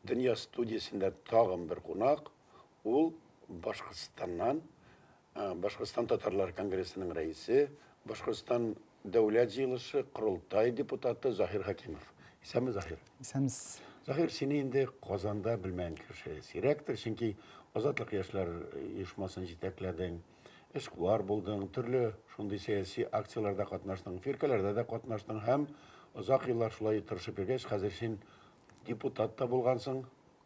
Дөнья студиясендә тагын бер кунак, ул Башкортстаннан Башкортстан татарлары конгрессының рәисе, Башкортстан Дәүләт җыелышы, Корылтай депутаты Заһир Хәкимов. Исәнме, Заһир? Исәнмез. Заһир, сине инде Казанда белмәгән кеше сирәктер, чөнки Азатлык яшьләр оешмасын җитәкләдең, эшкуар булдың, төрле шундый сәяси акцияләрдә катнаштың, фиркәләрдә дә катнаштың һәм озак еллар шулай тырышып йөргәч, хәзер син депутат та булгансың.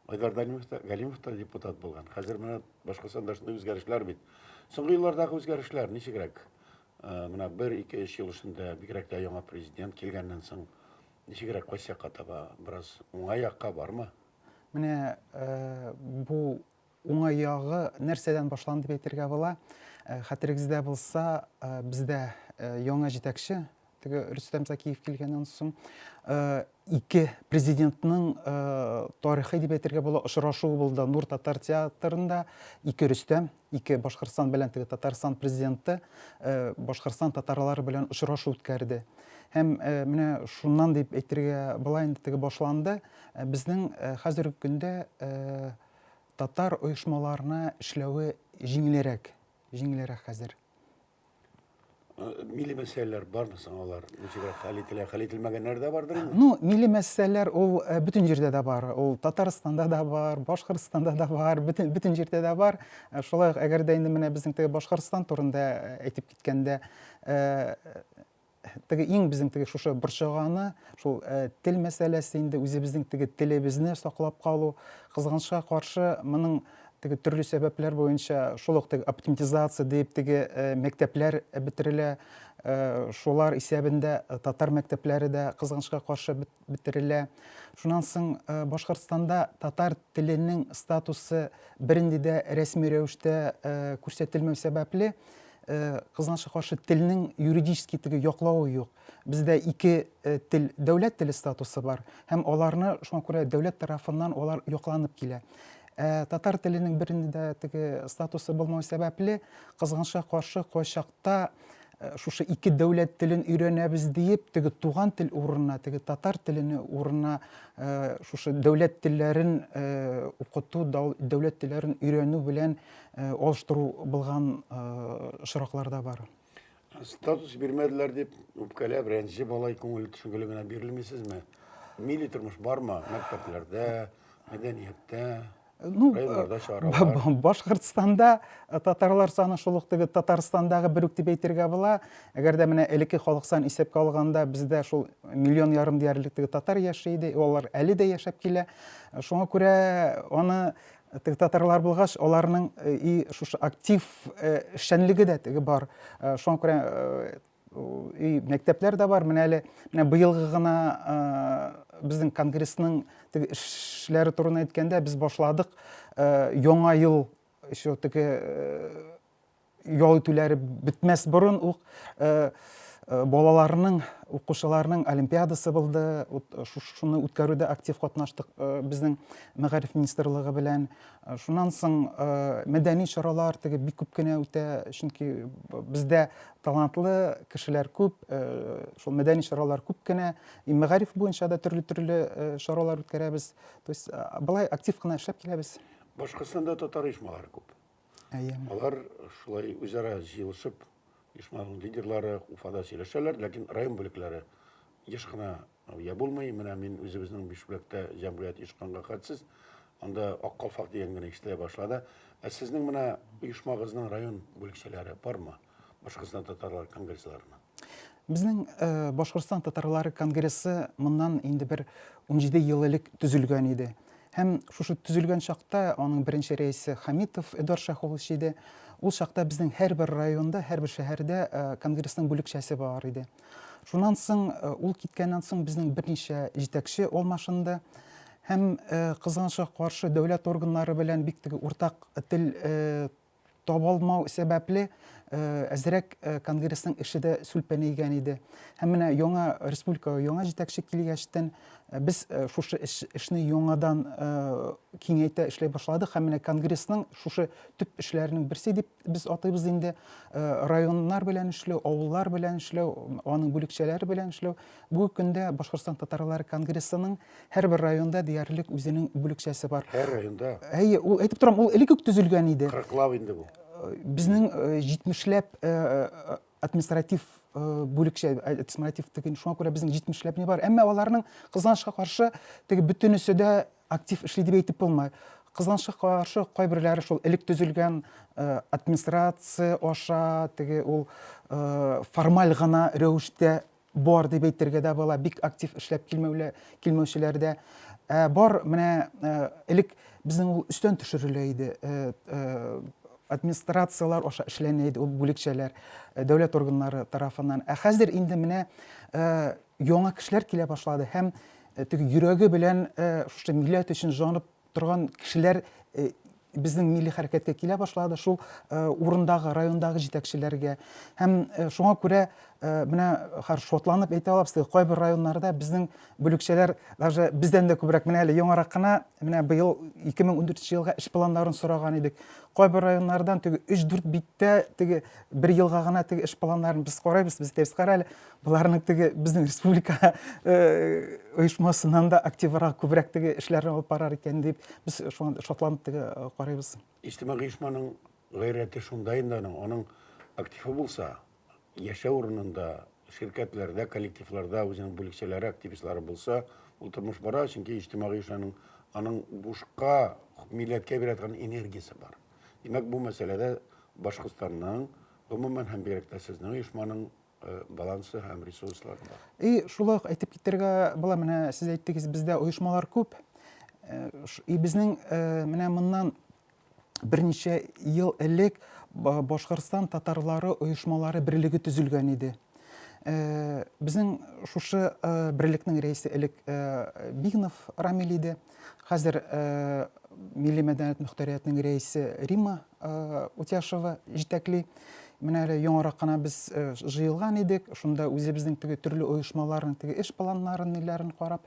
Айдар Данилов та, Галимов та депутат булган. Хәзер менә башка санда шундый үзгәрешләр бит. Соңгы еллардагы үзгәрешләр ничегрәк? Э, менә 1-2 эш ел эчендә бигрәк тә яңа президент килгәннән соң ничегрәк кайсы якка таба? Бераз уңай якка бармы? Менә э, бу уңай ягы нәрсәдән башланды дип әйтергә була. Э, хәтерегездә булса, бездә яңа җитәкче Теге Рөстәм Закиев килгәннән соң ике президентның тарихи дип әйтергә була очрашуы булды Нур татар театрында. Ике Рөстәм, ике Башкортстан белән теге Татарстан президенты Башкортстан татарлары белән очрашу үткәрде. Һәм менә шуннан дип әйтергә була инде теге башланды. Безнең хәзерге көндә татар оешмаларына эшләве җиңелрәк, җиңелрәк хәзер. Милли мәсьәләләр бармы соң алар? Ничегрәк хәл ителә? Хәл ителмәгәннәр дә бардыр инде? Ну, милли мәсьәләләр ул э, бөтен җирдә дә бар. Ул Татарстанда да бар, Башкортстанда да бар, бөтен бөтен җирдә дә бар. Э, шулай ук әгәр дә инде менә безнең теге Башкортстан турында э, әйтеп киткәндә, Теге иң безнең теге шушы борчыганы, шул э, тел мәсьәләсе инде үзебезнең теге телебезне саклап калу. Кызганычка каршы, моның теге төрле сәбәпләр буенча шул ук теге оптимизация дип теге э, мәктәпләр бетерелә. Э, шулар исәбендә татар мәктәпләре дә кызганычка каршы бит бетерелә. Шуннан соң Башкортстанда татар теленең статусы бернинди дә рәсми рәвештә күрсәтелмәү сәбәпле, кызганычка каршы, телнең юридический теге яклавы юк. Бездә ике тел, дәүләт теле статусы бар һәм аларны шуңа күрә дәүләт тарафыннан алар якланып килә. Татар теленең бернинди дә теге статусы булмау сәбәпле, кызганычка каршы, кайчак Вакытта шушы ике дәүләт телен өйрәнәбез диеп, теге туган тел урынына, теге татар телене урынына шушы дәүләт телләрен укыту, дәүләт телләрен өйрәнү белән алыштыру булган очраклар да бар. Статус бирмәделәр дип, үпкәләп, рәнҗеп алай күңел төшенгеле генә бирелмисезме? Милли тормыш бармы мәктәпләрдә, мәдәнияттә? ну, э, Башкортстанда э, татарлар саны шул ук теге Татарстандагы бер үк дип әйтергә була. Әгәр дә менә элекке халык сан исәпкә алганда бездә шул миллион ярым диярлек теге татар яши иде, алар әле дә яшәп килә. Э, шуңа күрә аны теге татарлар булгач, аларның и шушы актив эшчәнлеге дә теге бар. Шуңа күрә и мәктәпләр дә бар менә әле менә быелгы гына безнең конгрессның теге эшләре турында әйткәндә без башладык яңа ел еще теге ял итүләре бетмәс борын ук балаларның укучыларның олимпиадасы булды шуны үткәрүдә актив катнаштык безнең мәгариф министрлыгы белән Шуннан соң мәдәни чаралар теге бик күп кенә үтә, чөнки бездә талантлы кешеләр күп, шул мәдәни чаралар күп кенә. И мәгариф буенча да төрле-төрле чаралар үткәрәбез. То есть былай актив кына эшләп киләбез. Башкортстанда татар оешмалары күп. Әйе. Алар шулай үзара җыелышып, оешманың лидерлары Уфада сөйләшәләр, ләкин район бүлекләре еш кына Я булмый, менә мин үзебезнең Бишбүләктә җәмгыять оешканга хәтсез, анда Ак калфак дигән генә ишетелә башлады. Ә сезнең менә оешмагызның район бүлекчәләре бармы? Башкортстан татарлары конгрессы ларына. Безнең э, Башкортстан татарлары конгрессы моннан инде бер 17 ел элек төзелгән иде. Һәм шушы төзелгән чакта аның беренче рәисе Хамитов Эдуард Шәхович иде. Ул чакта безнең һәрбер районда, һәрбер шәһәрдә э, конгрессның бүлекчәсе бар иде. Шуннан соң, э, ул киткәннән соң безнең берничә җитәкче алмашынды һәм э, кызганычка каршы дәүләт органнары белән бик теге уртак тел э, табалмау сәбәпле э, әзрәк конгрессның эше дә сүлпәнәйгән иде һәм менә яңа республикага яңа җитәкче килгәчтен без шушы эшне яңадан киңәйтә эшләй башладык һәм менә конгрессның шушы төп эшләренең берсе дип Без атыйбыз инде э, районнар белән эшләү, авыллар белән эшләү, аның бүлекчәләре белән эшләү. Бүгенге көндә Башкортстан татарлары конгрессының һәрбер районда диярлек үзенең бүлекчәсе бар. Һәр районда. Әйе, ул әйтеп торам, ул элек үк төзелгән иде. Кырыклап инде бу. Э, безнең э, җитмешләп административ бүлекчә административ теге шуңа күрә безнең җитмешләп не бар әмма аларның кызганычка каршы теге бөтенесе дә актив эшли дип әйтеп булмый кызганычка каршы кайберләре шул элек төзелгән администрация аша теге ул формаль гына рәвештә Бар дип әйтергә дә була, бик актив эшләп килмәүчеләр дә бар. Менә элек безнең ул өстән төшерелә иде, администрацияләр аша эшләнә иде ул бүлекчәләр, дәүләт органнары тарафыннан. Ә хәзер инде менә яңа кешеләр килә башлады һәм теге йөрәге белән шушы милләт өчен җанып торган кешеләр безнең милли хәрәкәткә килә башлады, шул урындагы, райондагы җитәкчеләргә. Һәм шуңа күрә менә хәр шатланып әйтә алабыз теге кайбер районнарда безнең бүлекчәләр даже бездән дә күбрәк менә әле яңарак кына менә быел 2014 елга эш планнарын сораган идек кайбер районнардан теге 3-4 биттә теге бер елга гына теге эш планнарын без карайбыз без әйтәбез кара әле Боларның теге безнең республика э, оешмасыннан да активрак, күбрәк теге эшләрне алып барар икән дип, без шуңа шатланып теге э, карыйбыз. Иҗтимагый оешманың гайрәте шунда инде аның, аның активы булса, яшәү урынында, ширкәтләрдә, коллективларда үзенең бүлекчәләре, активистлары булса, ул тормыш бара, чөнки иҗтимагый оешманың аның бушка милләткә бирә торган энергиясе бар. Димәк, бу мәсьәләдә Башкортстанның, гомумән һәм бигрәк тә сезнең оешманың балансы һәм ресурслары бар. И шулай ук әйтеп китәргә була, менә сез әйттегез, бездә оешмалар күп. И безнең менә моннан берничә ел элек Башкортстан татарлары оешмалары берлеге төзелгән иде. Безнең шушы берлекнең рәисе элек Бигнов Рамил иде. Хәзер милли мәдәният мөхтәриятының рәисе Рима Утяшева җитәкли. Менә әле яңарак кына без җыелган идек, шунда үзебезнең теге төрле оешмаларның теге эш планнарын, ниләрен карап,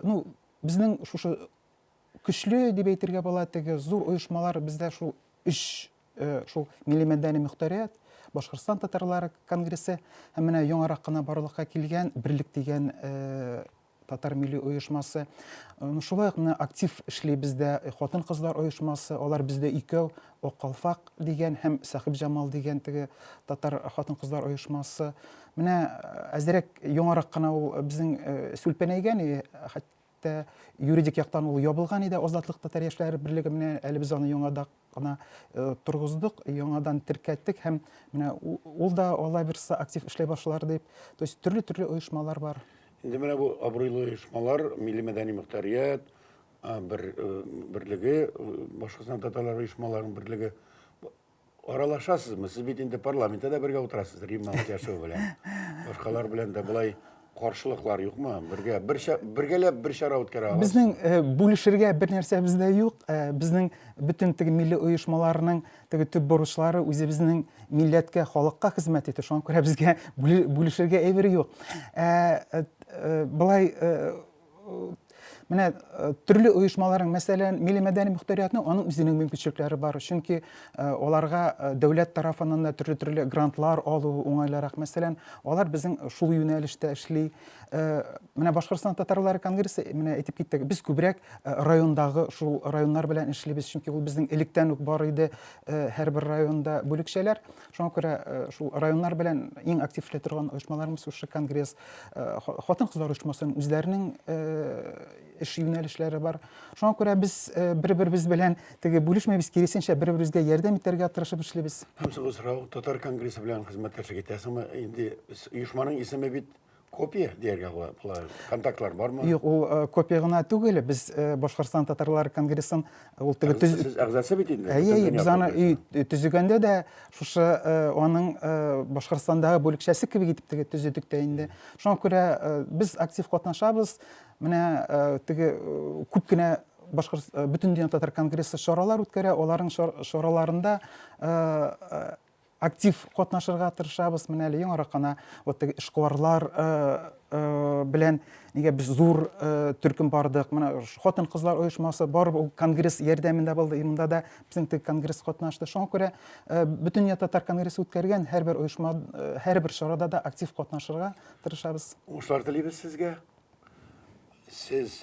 ну, безнең шушы көчле дип әйтергә була, теге зур оешмалар бездә шул өч шул милли мәдәни мөхтәрият, Башкортстан татарлары конгрессы һәм менә яңарак кына барлыкка килгән Берлек дигән татар милли оешмасы. Шулай ук менә актив эшли бездә хатын-кызлар оешмасы, алар бездә икәү, Ак калфак дигән һәм Сәхиб Җамал дигән теге татар хатын-кызлар оешмасы. Менә әзерәк яңарак кына ул безнең сүлпәнәйгән, хәтта юридик яктан ул ябылган иде Азатлык татар яшьләре берлеге менә әле без аны яңадан гына торгыздык, яңадан теркәттек һәм менә ул да алла бирса актив эшләй башлар дип. То есть төрле-төрле оешмалар бар. Инде менә бу абруйлы оешмалар, милли мәдәни мөхтәрият бер берлеге, башкортстан татарлар оешмаларының берлеге аралашасызмы? Сез бит инде парламентта да бергә утырасыз, Римма Мутяшева белән. Башкалар белән дә болай Каршылыклар юкмы? Бергә бер бергәләп бер чара үткәрә аласыз. Безнең э, бүлешергә бер нәрсәбез дә юк. Э, безнең бөтен теге милли оешмаларның теге төп бурычлары үзебезнең милләткә, халыкка хезмәт итү. Шуңа күрә безгә бүлешергә әйбер юк. Э, былай менә э, төрле оешмаларның мәсәлән милли мәдәни мөхтәриятны аның үзенең мөмкинчелекләре бар чөнки э, аларга э, дәүләт тарафыннан да төрле төрле грантлар алу уңайлырак мәсәлән алар безнең шул юнәлештә эшли менә башкортстан татарлары конгрессы менә әйтеп киттек без күбрәк райондагы шул районнар белән эшлибез чөнки ул безнең электән үк бар иде һәрбер районда бүлекчәләр Шуңа күрә э, шул районнар белән иң актив эшли торган оешмаларыбыз шушы конгресс э, хатын-кызлар оешмасын үзләренең э, эш юнәлешләре бар. Шуңа күрә без бер-беребез белән теге бүлешмәбез, киресенчә бер-беребезгә ярдәм итәргә тырышып эшлибез. Һәм соңгы сорау, татар конгрессы белән хезмәттәшлек итәсеңме? Инде оешманың исеме бит Копия дияргә була. Болар контактлар бармы? Юк, ул э, копия гына түгел. Без э, Башкортстан татарлар конгрессын э, ул теге төз... Сез әгъзасы бит инде. Әйе, әйе, без аны өй төзегәндә дә шушы э, аның э, Башкортстандагы бүлекчәсе кебек итеп теге төзедек тә инде. Шуңа күрә э, без актив катнашабыз. Менә э, теге э, күп кенә башкорт э, бөтен дөнья татар конгрессы чаралар үткәрә, аларның чар- чараларында э, э, Актив катнашырга тырышабыз. Менә әле яңарак кына вот теге эшкуарлар белән нигә без зур төркем бардык. Менә хатын-кызлар оешмасы барып ул конгресс ярдәмендә булды. И монда да безнең теге конгресс катнашты. Шуңа күрә бөтенләй татар конгрессы үткәргән һәрбер оешма, һәрбер чарада да актив катнашырга тырышабыз. Уңышлар телибез сезгә. Сез